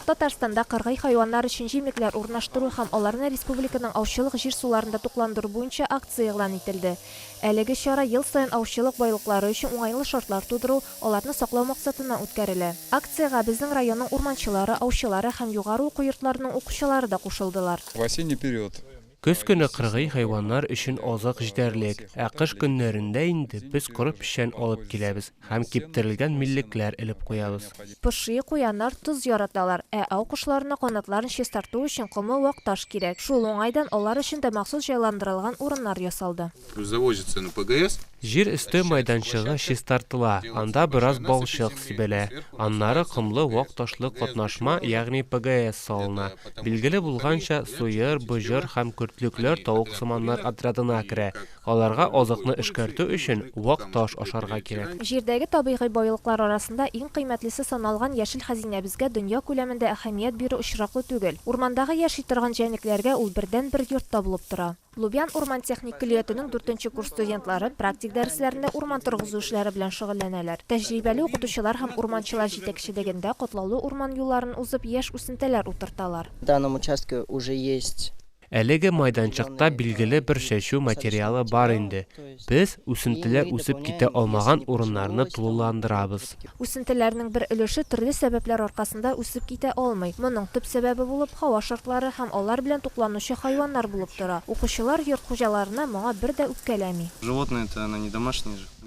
Татарстанда кыргый хайваннар өчен җимлекләр урнаштыру һәм аларны республиканың аучылык җир-суларында тукландыру буенча акция игълан ителде. Әлеге чара ел саен аучылык байлыклары өчен уңайлы шартлар тудыру, аларны саклау максатыннан үткәрелә. Акциягә безнең районның урманчылары, аучылары һәм югары уку йортларының укучылары да кушылдылар. В осенний период Көз көне кыргый хайваннар өчен азык җитәрлек, ә кыш көннәрендә инде без коры печән алып киләбез һәм киптерелгән миллекләр элеп куябыз. Поши, куяннар тоз яраталар, ә ау кошларына канатларын чистарту өчен комы вак таш кирәк. Шул уңайдан алар өчен дә махсус җайландырылган урыннар ясалды. Плюс завозится на ПГС. Җир өсте майданчыгы чистартыла, анда бераз балчык сибелә, аннары комлы вак ташлы катнашма, ягъни ПГС салына. Билгеле булганча, сыер, боҗыр һәм көртлекләр тавыксыманнар отрядына керә, аларга азыкны эшкәртү өчен вак таш ашарга кирәк. Җирдәге табигый байлыклар арасында иң кыйммәтлесе саналган яшел хәзинәбезгә дөнья күләмендә әһәмият бирү очраклы түгел. Урмандагы яши торган җәнлекләргә ул бердәнбер йорт та булып тора. Лубян урман-техник көллиятенең дүртенче курс студентлары практик дәресләрендә урман торгызу эшләре белән шөгыльләнәләр. Тәҗрибәле укытучылар һәм урманчылар җитәкчелегендә катлаулы урман юлларын узып, яшь үсентәләр утырталар. В данном участке уже есть. Әлеге майданчыкта билгеле бер чәчү материалы бар инде, Без үсентеләр үсеп китә алмаган урыннарны тулыландырабыз. Үсентеләрнең бер өлеше төрле сәбәпләр аркасында үсеп китә алмый. Моның төп сәбәбе булып һава шартлары һәм алар белән тукланучы хайваннар булып тора. Укучылар йорт хуҗаларына моңа бер дә үпкәләми.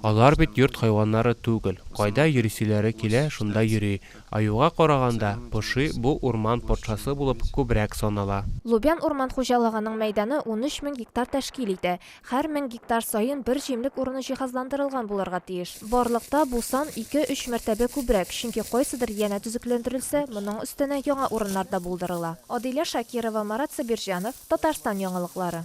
Алар бит йорт хайваннары түгел, кайда йөрисиләре килә, шунда йөри. Аюга караганда, поши бу урман патшасы булып күбрәк санала. Лубян урман хуҗалыгының мәйданы унөч мең гектар тәшкил итә. Һәр мең гектар саен бер җимлек урыны җиһазландырылган булырга тиеш. Барлыкта бу сан ике-өч мәртәбә күбрәк, чөнки кайсыдыр янә төзекләндерелсә, моның өстенә яңа урыннар да булдырыла. Адилә Шакирова, Марат Сабирҗанов, Татарстан яңалыклары.